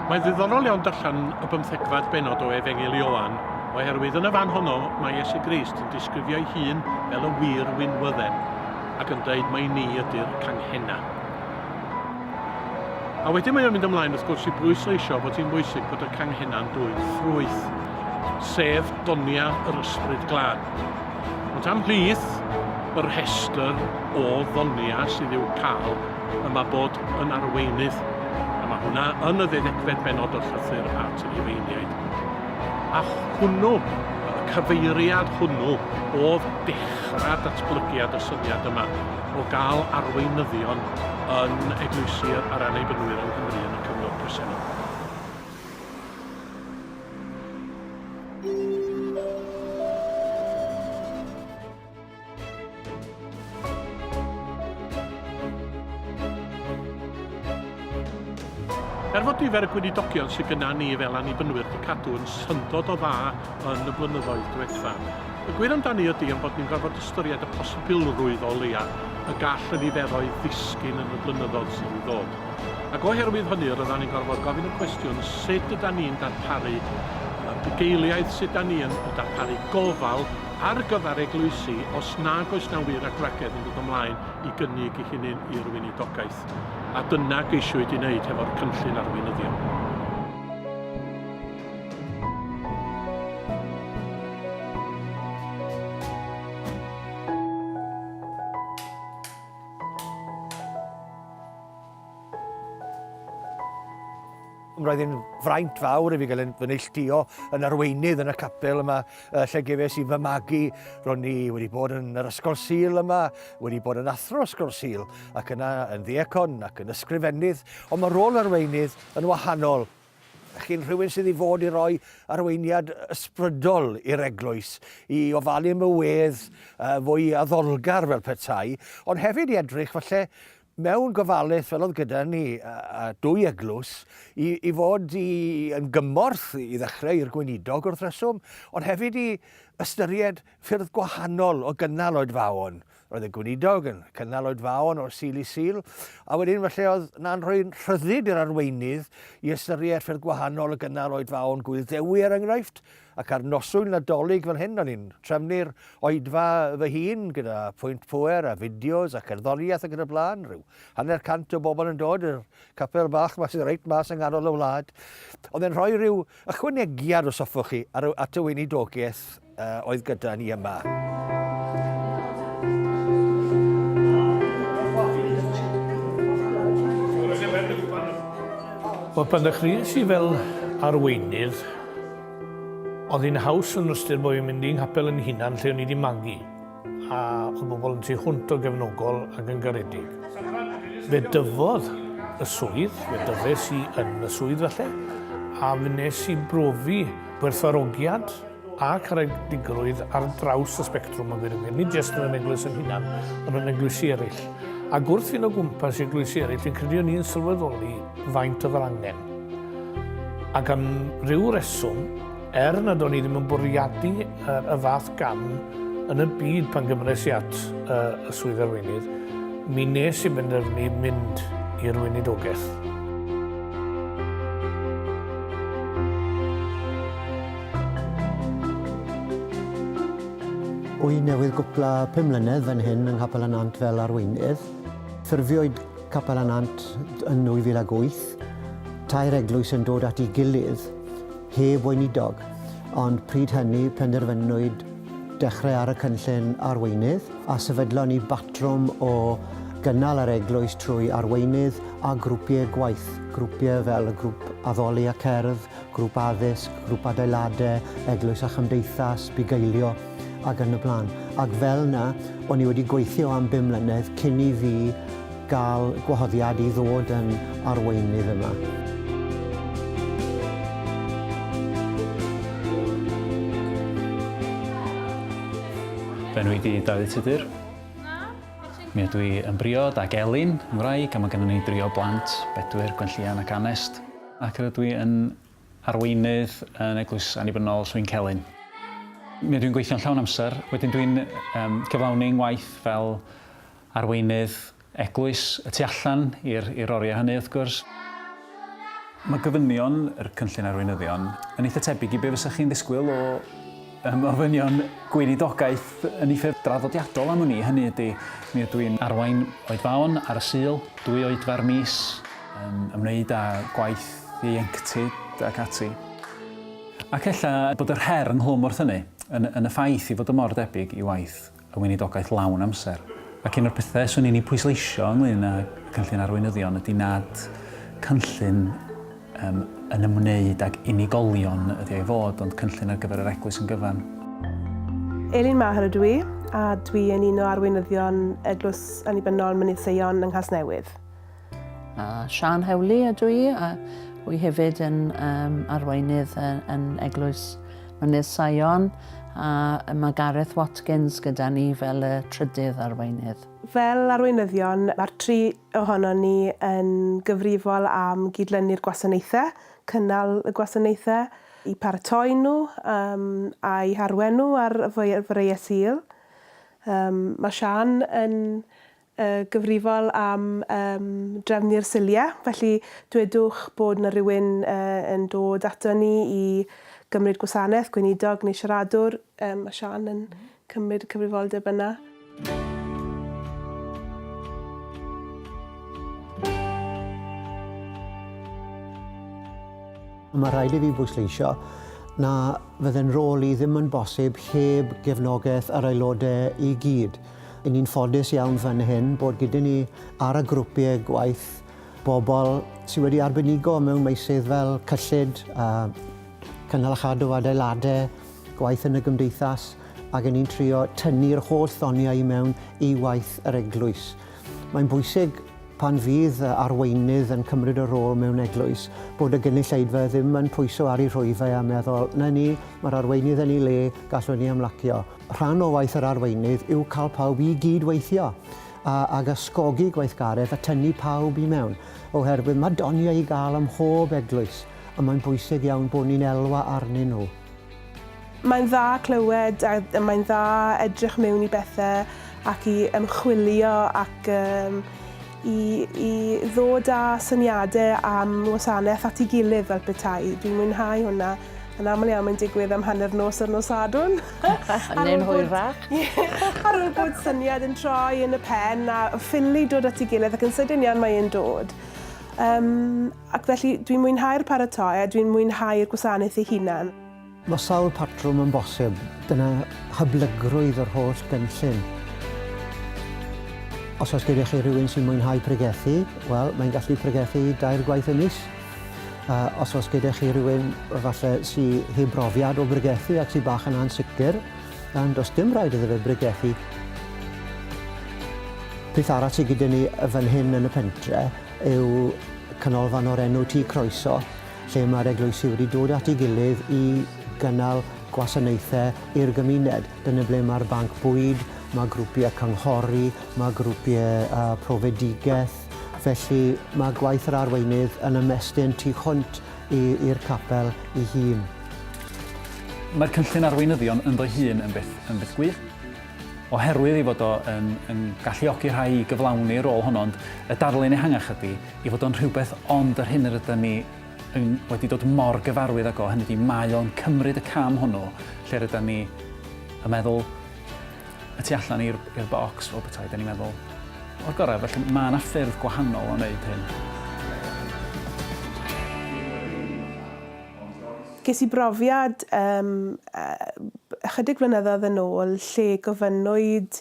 Mae'n ddiddorol iawn darllen y bymthegfed benod o Efengyl Ioan, oherwydd yn y fan honno mae Iesu Grist yn disgrifio ei hun fel y wir winwydden, ac yn dweud mae ni ydy'r canghenna. A wedyn mae o'n mynd ymlaen wrth gwrs i bwysleisio bod hi'n bwysig bod y canghenna'n dwyn ffrwyth, sef donia yr ysbryd glân. Ond am plith y rhestr o ddonia sydd i'w cael, y mae bod yn arweinydd, a mae hwnna yn y ddeuddegfed bennod o'r llythyr at y Rhufeiniaid. A hwnnw, y cyfeiriad hwnnw, oedd dechrau datblygiad y syniad yma o gael arweinyddion yn eglwysi'r a'r annibynwyr yng Nghymru yn y cyfnod presennol. Er fod nifer y gweinidogion sydd gyda ni fel annibynwyr wedi cadw yn syndod o dda yn y blynyddoedd diwetha, y gwir amdani ydy am bod ni'n gorfod ystyried y posibilrwydd o leia y gall y niferoedd ddisgyn yn y blynyddoedd sydd i ddod. Ac oherwydd hynny rydan ni'n gorfod gofyn y cwestiwn sut ydan ni'n darparu y bugeiliaid, sut ydan ni yn darparu gofal ar gyfer eglwysi os nag oes na wir adragedd yn dod ymlaen i gynnig i hynny'n i'r weinidogaeth. A dyna geisiwyd i wneud hefo'r cynllun arweinyddion. Roedd yn fraint fawr i fi gael yn fy neilltuo yn arweinydd yn y capel yma, uh, lle gefes i fy magu. Ro'n i wedi bod yn yr ysgol sil yma, wedi bod yn athro ysgol sil, ac yna yn ddiacon ac yn ysgrifennydd, ond mae rôl arweinydd yn wahanol Ych chi'n rhywun sydd i fod i roi arweiniad ysbrydol i'r eglwys, i ofalu am y wedd uh, fwy addolgar fel petai, ond hefyd i edrych falle mewn gofalus fel oedd gyda ni a, a dwy eglwys i, i fod i, yn gymorth i ddechrau i'r gweinidog wrth reswm, ond hefyd i ystyried ffyrdd gwahanol o gynnal oedfaon. Roedd y gweinidog yn cynnal oedfaon o'r Sul i Sul, a wedyn felly oedd na'n rhoi rhyddid i'r arweinydd i ystyried ffyrdd gwahanol o gynnal oedfaon Gŵyl Dewi er enghraifft, ac ar noswyl Nadolig fel hyn o'n i'n trefnu'r oedfa fy hun gyda phwynt pŵer a fideos a cherddoriaeth ac yn y blaen, rhyw hanner cant o bobl yn dod i'r capel bach 'ma sydd reit mas yng nghanol y wlad. Oedd e'n rhoi rhyw Ychwanegiad, os hoffwch chi, ar, at y weinidogaeth uh, oedd gyda ni yma. Wel, pan ddechreuais i fel arweinydd, oedd hi'n haws yn ystyr bod fi'n mynd i'n ngapel yn hunan lle o'n i wedi magu. a oedd bobl yn tu hwnt o gefnogol ac yn garedig. Fe dyfodd y swydd, fe dyfes i yn y swydd falle, a fe nes i brofi gwerthfarogiad a caredigrwydd ar draws y spectrwm yn gwirionedd, nid jyst yn yr eglwys yn hunan, ond yn eglwysi eraill. A gwrth fynd o gwmpas i eglwysi eraill, fi'n credu o'n i'n sylweddoli faint oedd yr angen. Ac am ryw reswm, Er nad o'n i ddim yn bwriadu y fath gam yn y byd pan gymres i at y swydd arweinydd, mi nes i benderfynu mynd i'r weinidogaeth. Wy newydd gwpla pum mlynedd fan hyn yng Nghapel y Nant fel arweinydd. Ffurfiwyd Capel y Nant yn 2008. Tair eglwys yn dod at ei gilydd. heb weinidog, ond pryd hynny penderfynwyd dechrau ar y cynllun arweinydd a sefydlon ni batrwm o gynnal yr eglwys trwy arweinydd a grwpiau gwaith, grwpiau fel y grwp addoli a cerdd, grwp addysg, grwp adeiladau, eglwys a chymdeithas, bugeilio. ac yn y blaen. Ac fel yna, o'n i wedi gweithio am bum mlynedd cyn i fi gael gwahoddiad i ddod yn arweinydd yma. Fy enw i di Dafydd Tudur. Mi ydw i yn briod ac Elin, yn wraig, a mae gennym ni dri o blant, Bedwyr, Gwenllian ac Anest. Ac rydw i yn arweinydd yn Eglwys Annibynnol Swyncelyn. Mi ydw i'n gweithio'n llawn amser, wedyn dwi'n um, cyflawni ngwaith fel arweinydd eglwys y tu allan i'r oriau hynny wrth gwrs. Mae gofynion yr Cynllun Arweinyddion yn eitha tebyg i be fysa chi'n ddisgwyl o Ym ofynion Gweinidogaeth yn ei ffurf draddodiadol am wn i, hynny ydy, mi ydw i'n arwain oedfaon ar y Sul dwy oedfa'r mis, yn ymwneud â gwaith ieuenctid ac ati. Ac ella bod yr her ynghlwm wrth hynny yn yn y ffaith ei fod o mor debyg i waith y Weinidogaeth lawn amser. Ac un o'r pethau 'swn i'n ei pwysleisio ynglŷn â Cynllun Arweinyddion ydy nad cynllun yym yn ymwneud ag unigolion ydy o i fod, ond cynllun ar gyfer yr Eglwys yn gyfan. Elin Maher ydw i, a dwi yn un o arweinyddion Eglwys Annibynnol Mynydd Seion yng Nghasnewydd. A Siân Hewli ydw i, a wy hefyd yn um, arweinydd yn, yn Eglwys Mynydd Sion, a mae Gareth Watkins gyda ni fel y trydydd arweinydd. Fel arweinyddion, mae'r tri ohono ni yn gyfrifol am gydlynu'r gwasanaethau, cynnal y gwasanaethau, i paratoi nhw um, a'i harwen nhw ar freiau sil. Um, mae Sian yn y gyfrifol am drefnu'r siliau, felly dwedwch bod 'na rywun yn dod aton ni i gymryd gwasanaeth, gweinidog neu siaradwr, mae Siân yn cymryd y cyfrifoldeb yna. Mae rhaid i fi bwysleisio na fydde'n rôl i ddim yn bosib heb gefnogaeth yr Aelodau i gyd. Ry'n ni'n ffodus iawn fan hyn bod gyda ni ar y grwpiau gwaith bobl sydd wedi arbenigo mewn meysydd fel cyllid, cynnal a chadw adeiladau, gwaith yn y gymdeithas ac yn ni'n trio tynnu'r holl ddoniau i mewn i waith yr eglwys. Mae'n bwysig pan fydd arweinydd yn cymryd y rôl mewn eglwys bod y gynulleidfa ddim yn pwyso ar ei rhwyfau a meddwl 'na ni, mae'r arweinydd yn ei le, gallwn ni ymlacio. Rhan o waith yr arweinydd yw cael pawb i gyd-weithio a, ag ysgogi gweithgaredd a tynnu pawb i mewn, oherwydd mae doniau i gael ym mhob eglwys a mae'n bwysig iawn bod ni'n elwa arnyn nhw. Mae'n dda clywed a mae'n dda edrych mewn i bethau ac i ymchwilio ac i i ddod â syniade am wasanaeth at 'i gilydd fel petai. Dwi'n mwynhau hwnna. Yn aml iawn mae'n digwydd am hanner nos ar nos Sadwrn. Neu'n hwyrach. Ar ôl bod syniad yn troi yn y pen a ffili dod at 'i gilydd ac yn sydyn iawn mae e'n dod. Yym ac felly dwi'n mwynhau'r paratoi a dwi'n mwynhau'r gwasanaeth ei hunan. Mae sawl patrwm yn bosib, dyna hyblygrwydd yr holl gynllun. Os oes gyda chi rhywun sy'n mwynhau pregethu, wel, mae'n gallu pregethu dair gwaith y mis. Uh, os oes gyda chi rhywun falle sy'n heb brofiad o bregethu ac sy'n bach yn ansicr, dan does dim rhaid iddo fe bregethu. Peth arall sydd gyda ni fan hyn yn y pentre yw canolfan o'r enw Tŷ Croeso, lle mae'r eglwysi wedi dod at ei gilydd i gynnal gwasanaethau i'r gymuned. Dyna ble mae'r banc bwyd, mae grwpiau cynghori, mae grwpiau uh, profedigaeth. Felly mae gwaith yr arweinydd yn ymestyn tu hwnt i'r capel ei hun. Mae'r cynllun arweinyddion ynddo'i hun yn beth, yn beth gwych, oherwydd ei fod o yn, yn galluogi rhai i gyflawni rôl honno, ond y darlun ehangach ydy, I fod o'n rhywbeth ond yr hyn yr ydym ni yn wedi dod mor gyfarwydd ag o, hynny ydi, mae o'n cymryd y cam hwnnw lle rydym ni yn meddwl y tu allan i'r i'r bocs fel petai, da ni'n meddwl o'r gorau, felly mae yna ffyrdd gwahanol o wneud hyn. Ges i brofiad yym yy ychydig flynyddoedd yn ôl lle gofynnwyd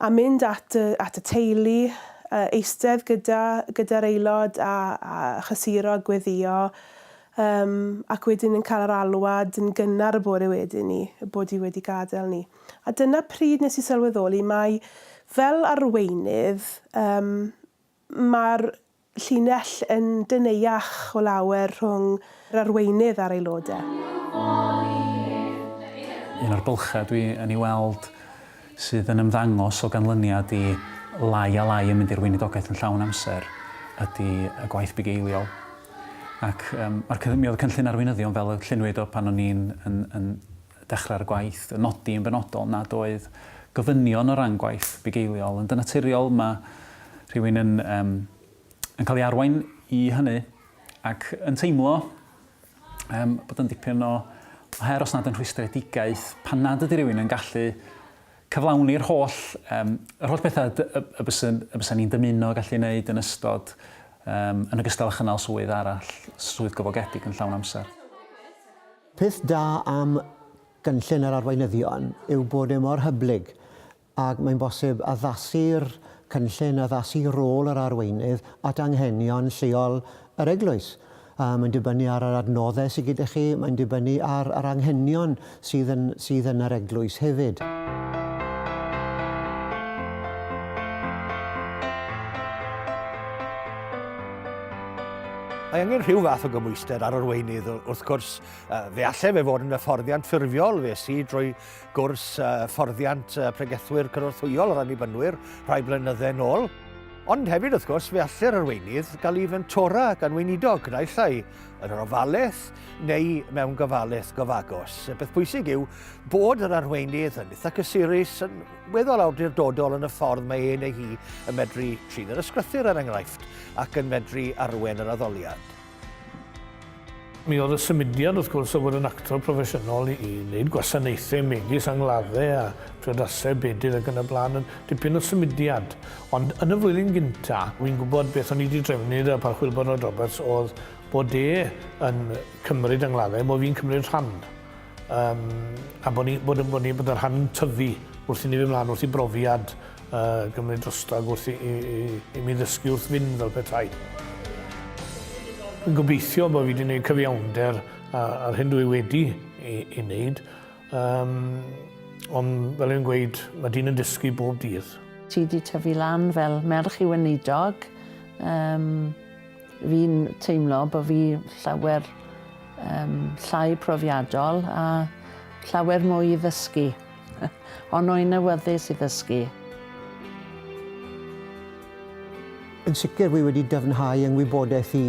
A mynd at y, at y teulu, yy, eistedd gyda, gyda'r aelod a, a chysuro a gweddio, yym, ac wedyn yn cael yr alwad yn gynnar y bore wedyn 'ny y bod hi wedi gadael ni. A dyna pryd nes i sylweddoli mai fel arweinydd, yym, Mae'r llinell yn deneuach o lawer rhwng yr arweinydd a'r aelodau. Un o'r bylchau dwi yn ei weld sydd yn ymddangos o ganlyniad i lai a lai yn mynd i'r weinidogaeth yn llawn amser ydy y gwaith bugeiliol. Ac yym ma'r cy- mi oedd y cynllun arweinyddion fel y lluniwyd o pan o'n i'n yn yn Dechrau'r gwaith, yn nodi yn benodol nad oedd gofynion o ran gwaith bugeiliol, ond yn naturiol mae rhywun yn yym yn cael ei arwain i hynny ac yn teimlo yym bod yn dipyn o o her os nad yn rhwystredigaeth pan nad ydy rhywun yn gallu cyflawni'r holl yym yr holl bethau y, y, y byswn y byswn ni'n dymuno gallu wneud yn ystod yym yn ogystal â chynnal swydd arall, swydd gyflogedig yn llawn amser. Peth da am gynllun yr arweinyddion yw bod e mor hyblyg ac mae'n bosib addasu'r cynllun, addasu rôl yr arweinydd at anghenion lleol yr eglwys. Mae'n dibynnu ar yr adnoddau sydd gyda chi, mae'n dibynnu ar yr anghenion sydd yn sydd yn yr eglwys hefyd. Mae angen rhyw fath o gymwysted ar arweinydd, wrth gwrs, fe allai fe fod yn hyfforddiant ffurfiol, fe si drwy gwrs fforddiant pregethwyr cynorthwyol yr annibynnwyr rhai blynyddau yn ôl. Ond hefyd, wrth gwrs, fe allai'r arweinydd gael ei fentora gan weinidog, naill ai yn yr ofalaeth neu mewn gofalaeth gofagos. Y peth pwysig yw bod yr arweinydd yn eitha cysurus, yn weddol awdurdodol yn y ffordd mae ei neu hi yn medru trin yr ysgrythur er enghraifft ac yn medru arwen yr addoliad. Mi oedd y symudiad wrth gwrs o fod yn actor proffesiynol i wneud gwasanaethau megis angladdau a priodasau bedydd ac yn y blaen yn dipyn o symudiad. Ond yn y flwyddyn gynta, wi'n gwybod beth o'n i wedi drefnu y Parchwyl Bernard Roberts oedd bod e yn cymryd angladdau, bod fi'n cymryd rhan. Um, a bod ni'n bod, bod ni, bod rhan tyfu wrth i ni fy mlaen, wrth i brofiad uh, gymryd drostag, wrth i, i, i, i mi ddysgu wrth fynd fel petai. Yn gobeithio bod fi wedi gwneud cyfiawnder ar hyn dwi wedi ei, ei wneud. Um, ond fel yn gweud, mae dyn yn dysgu bob dydd. Ti wedi tyfu lan fel merch i weinidog. Um, Fi'n teimlo bod fi llawer um, llai profiadol a llawer mwy i ddysgu. Ond o'n i'n awyddus i ddysgu. Yn sicr fi wedi dyfnhau yng ngwybodaeth i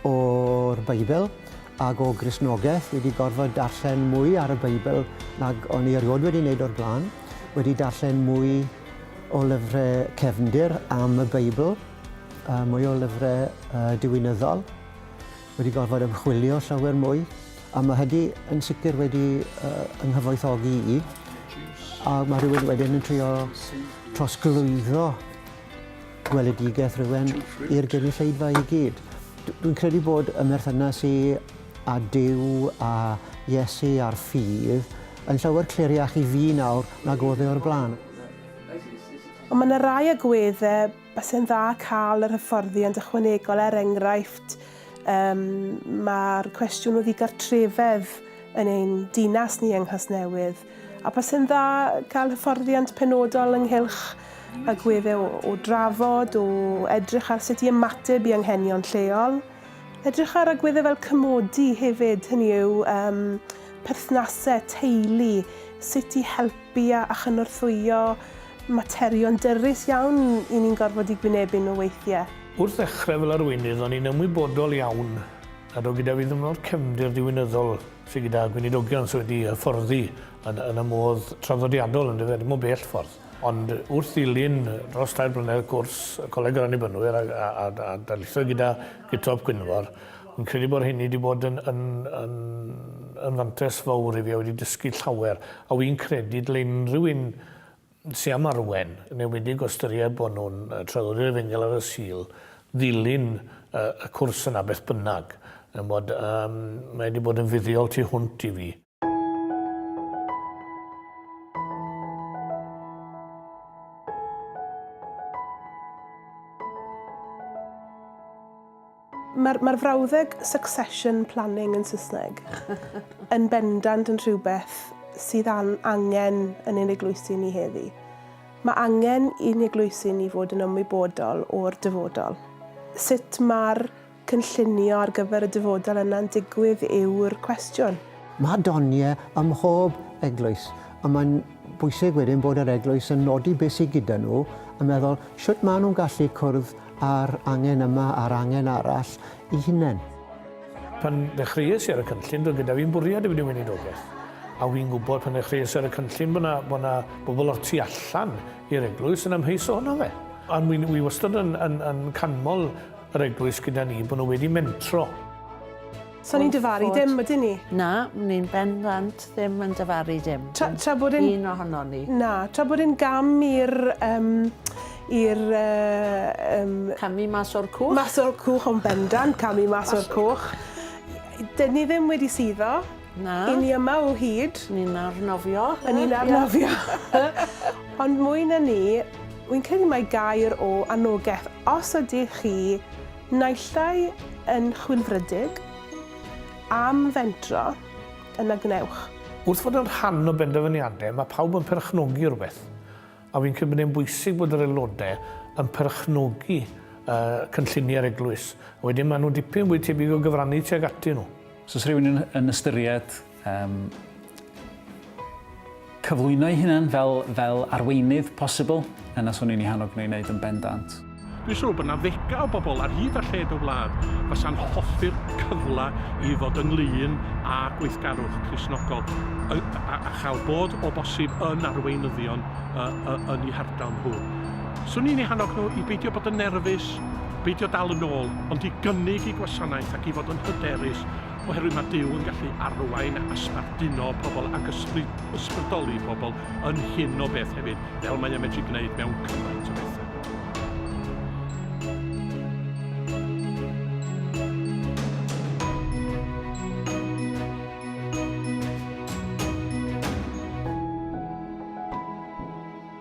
o'r Beibl ac o Gristnogaeth. Fi wedi gorfod darllen mwy ar y Beibl nag o'n i erioed wedi wneud o'r blaen. Wedi darllen mwy o lyfrau cefndir am y Beibl. uh, mwy o lyfrau uh, diwinyddol, wedi gorfod ymchwilio llawer mwy, a mae hynny yn sicr wedi uh, yng nghyfoethogi i, a mae rhywun wedyn yn trio trosglwyddo gweledigaeth rhywun i'r gynulleidfa i gyd. Dwi'n credu bod y merthynas i a Dyw a Iesu a'r ffydd yn llawer cliriach i fi nawr nag oedd e o'r blaen. Ond mae yna rai agweddau Basai'n dda cael yr hyfforddiant ychwanegol er enghraifft um, mae'r cwestiwn o ddigartrefedd yn ein dinas ni yng Nghasnewydd a basai'n dda cael hyfforddiant penodol ynghylch y gwedde o, o drafod, o edrych ar sut i ymateb i anghenion lleol, edrych ar agwedde fel cymodi hefyd, hynny yw um, perthnasau, teulu, sut i helpu bia a chynorthwyo, materion dyrys iawn i ni'n gorfod eu gwynebu nhw weithiau. Wrth ddechrau fel arweinydd o'n i'n ymwybodol iawn nad oedd gyda fi ddim o'r cefndir diwinyddol sydd gyda gweinidogion sydd wedi hyfforddi yn yn y modd traddodiadol yndyfe, ddim o bell ffordd. Ond wrth ddilyn dros dair blynedd cwrs y Coleg yr Annibynwyr a a a a darlithoedd gyda Gutob Gwynfor, Fi'n credu bod hynny wedi bod yn, yn, yn, yn fantes fawr i fi a wedi dysgu llawer. A wy'n credu dyle unrhyw un sy'n am arwen, yn enwedig o ystyried bod nhw'n traddodiad efengyl ar y Sul, ddilyn y, y cwrs yna beth bynnag. Yn bod, um, mae wedi bod yn fuddiol tu hwnt i fi. Mae'r mae frawddeg succession planning yn Saesneg yn bendant yn rhywbeth sydd an, angen yn ein eglwysi ni heddi. Mae angen i'n eglwysi ni fod yn ymwybodol o'r dyfodol. Sut mae'r cynllunio ar gyfer y dyfodol yna'n digwydd yw'r cwestiwn. Mae doniau ym mhob eglwys, ond mae'n bwysig wedyn bod yr eglwys yn nodi beth sydd gyda nhw, yn meddwl sut maen nhw'n gallu cwrdd â'r angen yma a'r angen arall eu hunain. Pan ddechreuais i ar y cynllun, doedd gyda fi'm bwriad i fynd i weinidogaeth. A wi'n gwybod pan ddechreuais i ar y cynllun bod 'na bod 'na bobl o'r tu allan i'r eglwys yn amheus ohono fe. Ond wi'n wi wastad yn yn yn canmol yr eglwys gyda ni, bod nhw wedi mentro. So ni'n dyfaru dim, ydyn ni? Na, ni'n bendant ddim yn dyfaru dim. Tra, tra bod yn... Un ohono ni. Na, tra bod yn gam i'r... Um, i'r... Uh, um, camu mas o'r cwch. Mas o'r cwch o'n bendant, camu mas o'r cwch. Dyn ni ddim wedi suddo. Na. I ni yma o hyd. Ni'n arnofio. A ni'n arnofio. Ond mwy na ni, wy'n credu mae gair o anogaeth os ydych chi naillai yn chwilfrydig am fentro, yna gwnewch. Wrth fod yn rhan o benderfyniadau, mae pawb yn perchnogi rhywbeth, a wy'n credu bod e'n bwysig bod yr aelodau yn perchnogi cynlluniau'r eglwys. Wedyn maen nhw'n dipyn fwy tebyg o gyfrannu tuag atyn nhw. Os oes rhywun yn, yn ystyried um, cyflwyno'i hunan fel, fel arweinydd posibl, yna swn i'n ei hannog nhw i wneud yn bendant. Dwi'n siŵr bod yna ddegau o bobl ar hyd a lled y wlad fasa'n hoffi'r cyfle i fod ynglyn â gweithgarwch Crisnogol a, a, a chael bod o bosib yn arweinyddion yn eu hardal nhw. Swn i'n ei hannog nhw i beidio bod yn nerfus Peidio dal yn ôl, ond i gynnig y gwasanaeth ac i fod yn hyderus, oherwydd mae Duw yn gallu arwain a sbarduno pobl ac ysbrydoli pobl yn hyn o beth hefyd, fel mae e'n medru gwneud mewn cymaint o bethau.